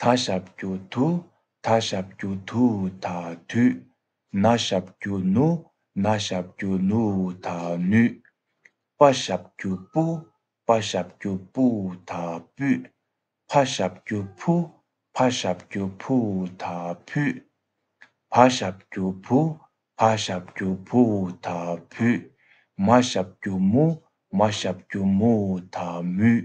ད་ཞབས་རྒྱུ་དུ་ད་ཞབས་རྒྱུ་དུ་ད་དུས། ན་ཞབས་རྒྱུ་ནུ་ན་ཞབས་རྒྱུ་ནུ་ད་ནུས། པ་ཞབས་རྒྱུ་པུ་པ་ཞབས་རྒྱུ་པུ་ད་པུས། ཕ་ཞབས་རྒྱུ་ཕུ་ཕ་ཞབས་རྒྱུ་ཕུ་ད་ཕུས། བ་ཞབས་རྒྱུ་བུ་བ་ཞབས་རྒྱུ་བུ་ད་བུས། མ་ཞབས་རྒྱུ་མུ་མ་ཞབས་རྒྱུ་མུ་ད་མུས།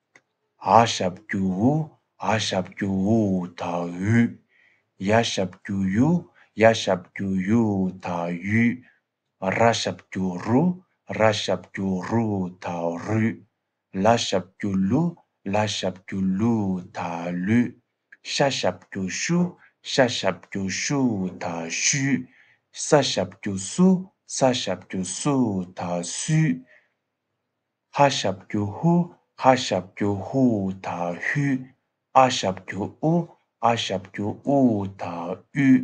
ཨ་ཞབས་རྒྱུ་ཨུ་ཨ་ཞབས་རྒྱུ་ཨུ་ད་ཨུད། ཡ་ཞབས་རྒྱུ་ཡུ་ཡ་ཞབས་རྒྱུ་ཡུ་ད་ཡུད། ར་ཞབས་རྒྱུ་རུ་ར་ཞབས་རྒྱུ་རུ་ད་རུད། ལ་ཞབས་རྒྱུ་ལུ་ལ་ཞབས་རྒྱུ་ལུ་ད་ལུད། ཤ་ཞབས་རྒྱུ་ཤུ་ཤ་ཞབས་རྒྱུ་ཤུ་ད་ཤུད། ས་ཞབས་རྒྱུ་སུ་ས་ཞབས་རྒྱུ་སུ་ད་སུད། ཧ་ཤབ་ཀྱུ་ཧུ་ཧ་ཤབ་ཀྱུ་ཧུའུ་ཐ་ཧུས། ཨ་ཤབ་ཀྱུ་ཨུ་ཨ་ཤབ་ཀྱུ་ཨུའུ་ཐ་ཨུས།